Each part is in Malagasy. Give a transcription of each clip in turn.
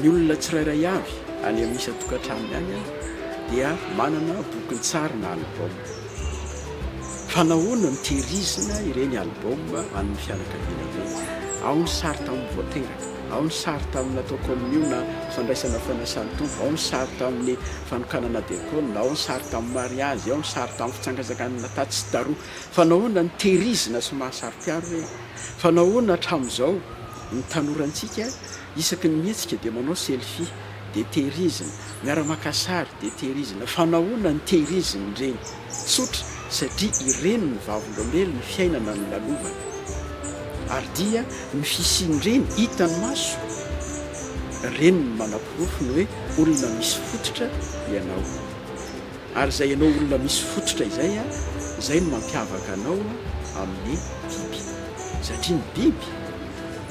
Ny olona tsirairay avy any amin'ny isan-tokantranony any dia manana bokin-tsary na album. Fa nahoana no tehirizina ireny album an'ny fianakaviana ireny? Ao ny sary tamin'ny vao teraka, ao ny sary tamin'ny natao kaominio na fandraisana fanasan-tompo, ao ny sary tamin'ny fanokanana diakona, ao ny sary tamin'ny mariazy, ao ny sary tamin'ny fitsangatsanganana tatsy sy taroa. Fa nahoana no tehirizina sy mahasaro-piaro ireny? Fa nahoana hatramin'izao Ny tanorantsika isaky ny mihetsika dia manao selfie dia tehirizina, miara maka sary dia tehirizina fa nahoana no tehirizina ireny? Tsotra satria ireny no vavolombelon'ny fiainana nolalovana ary dia ny fisian'ireny hitan'ny maso ireny no manaporofo ny hoe olona misy fototra ianao. Ary izay ianao olona misy fototra izay a, izay no mampiavaka anao amin'ny biby. Satria ny biby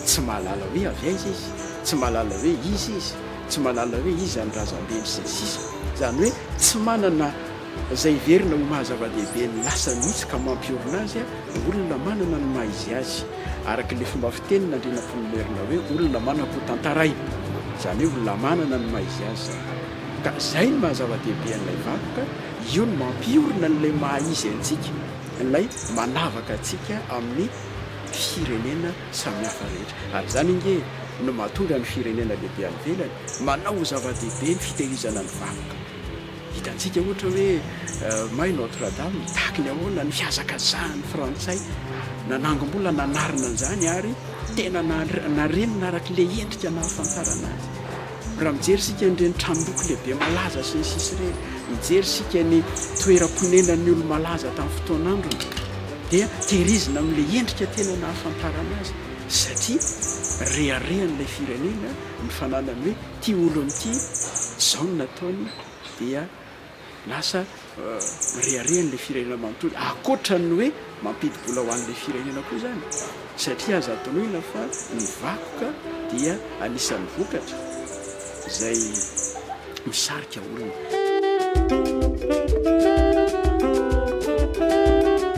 tsy mahalala hoe avy aiza izy, tsy mahalala hoe iza izy, tsy mahalala hoe iza ny razambeny sy ny sisa. Izany hoe tsy manana izay heverina ho maha zava-dehibe ny lasa mihitsy ka mampiorina azy ny olona manana ny maha izy azy. Araka ilay fomba fitenin'Andrianampoinimerina hoe olona manam-po tantaraina. Izany hoe olona manana ny maha izy azy izany. Ka izay no maha zava-dehibe an'ilay vakoka, io no mampiorina an'ilay maha izy antsika, ilay manavaka antsika amin'ny firenena samihafa rehetra. Ary izany ange no mahatonga ny firenena lehibe any ivelany manao ho zava-dehibe ny fitehirizana ny vakoka. Hitantsika ohatra hoe may Notre Dame mitaky ny ahoana ny fihazakazahan'ny frantsay nanangom-bola nanarina an'izany ary tena narenina arak'ilay endrika nahafantarana azy. Raha mijery isika an'ireny tranom-boky lehibe malaza sy ny sisa ireny, mijery isika ny toeram-ponenan'ny olo-malaza tamin'ny fotoan'androny dia tehirizina amin'ilay endrika tena nahafantarana azy satria reharehan'ilay firenena ny fananany hoe ity olona ity izao no nataony dia Lasa mirehareha an'ilay firenena manontolo ankoatra ny hoe mampidi-bola ho an'ilay firenena koa izany satria azo antonoina fa ny vakoka dia anisan'ny vokatra izay misarika olona.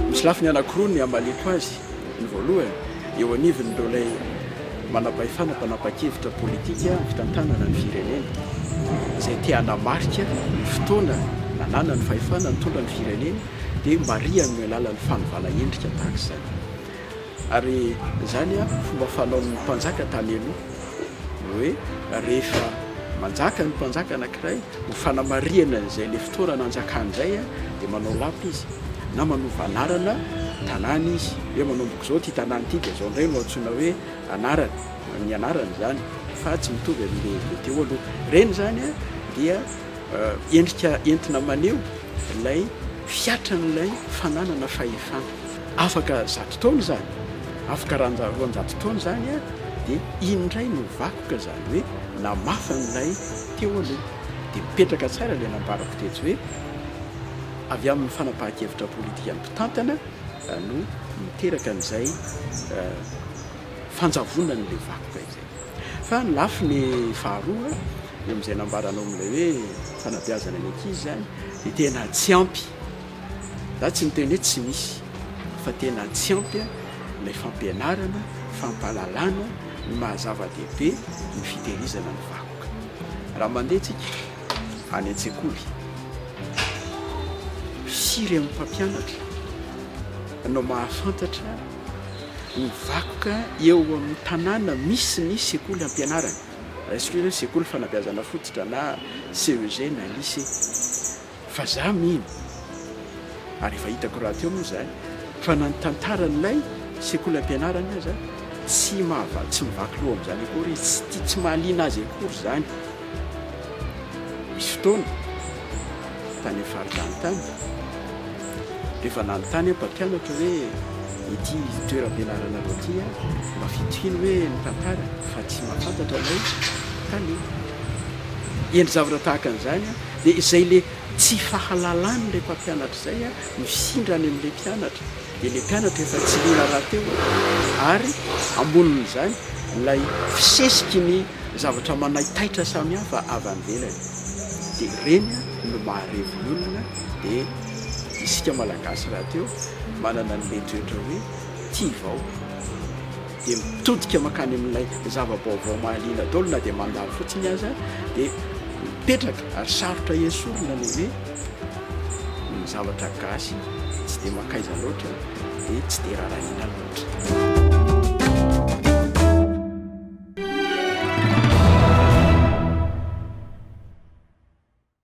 Misy lafiny anankiroa ny hamaliako azy, ny voalohany eo anivon'ireo ilay manam-pahefana mpanapa-kevitra politika amin'ny fitantanana ny firenena, izay te hanamarika ny fotoana nananany fahefana nitondra ny firenena dia marihany amin'ny alalan'ny fanovana endrika tahaka izany. Ary izany fomba fanaon'ny mpanjaka tany aloha, ny hoe rehefa manjaka ny mpanjaka anankiray Ho fanamarihana izay ilay fotoana nanjakany izay dia manao lapa izy na manova anarana tanàna izy hoe manomboka izao ity tanàna ity dia izao indray no antsoina hoe anarany, ny anarany izany fa tsy mitovy amin'ilay teo aloha. Ireny izany dia endrika entina maneho ilay fiatran'ilay fananana fahefana. Afaka zato taona izany, afaka roanjato taona izany dia iny indray no vakoka izany hoe namafy an'ilay Teo aloha dia mipetraka tsara ilay nambarako teto hoe avy amin'ny fanapahan-kevitra politikan'ny mpitantana no niteraka an'izay fanjavonan'ilay vakoka izay. Fa ny lafiny faharoa, eo amin'izay nambaranao amin'ilay hoe fanabeazana ny ankizy izany, dia tena tsy ampy. Za tsy miteny hoe tsy misy, fa tena tsy ampy ilay fampianarana, fampahalalana ny maha-zava-dehibe ny fitehirizana ny vakoka. Raha mandeha tsika any an-tsekoly, firy amin'ny mpampianatra no mahafantatra ny vakoka eo amin'ny tanàna misy ny sekoly hampianarany, raisiko izy hoe sekoly fanabeazana fototra na CEG na lycée. fa za mino ary efa hitako rahateo moa zany fa na ny tantaran'ilay sekolam-pianarana aza tsy mahavaly tsy mivaky loha amin'izany akory izy tsy tia tsy mahaliana azy akory zany misy fotoana tany amin'ny faritany tany rehefa nanontany aho mpampianatra hoe ity toeram-pianaranareo ity a mba fitohiny hoe ny tantara fa tsy mahafantatra ilay tale endry zavatra tahaka an'izany a Dia izay le tsy fahalalan'ilay mpampianatra izay mifindra any amin'ilay mpianatra, dia ilay mpianatra efa tsy liana rahateo ary ambonin'izany ilay fisesiky ny zavatra manaitaitra samihafa avy any ivelany. Dia ireny no maharevy ny olona, dia isika Malagasy rahateo manana an'ilay toetra hoe tia vaoka. dia mitodika mankany amin'ilay zava-baovao mahaliana daholo na dia mandalo fotsiny aza dia mipetraka ary sarotra esorina ny hoe ny zavatra gasy tsy dia mankaiza loatra dia tsy dia rarahiana loatra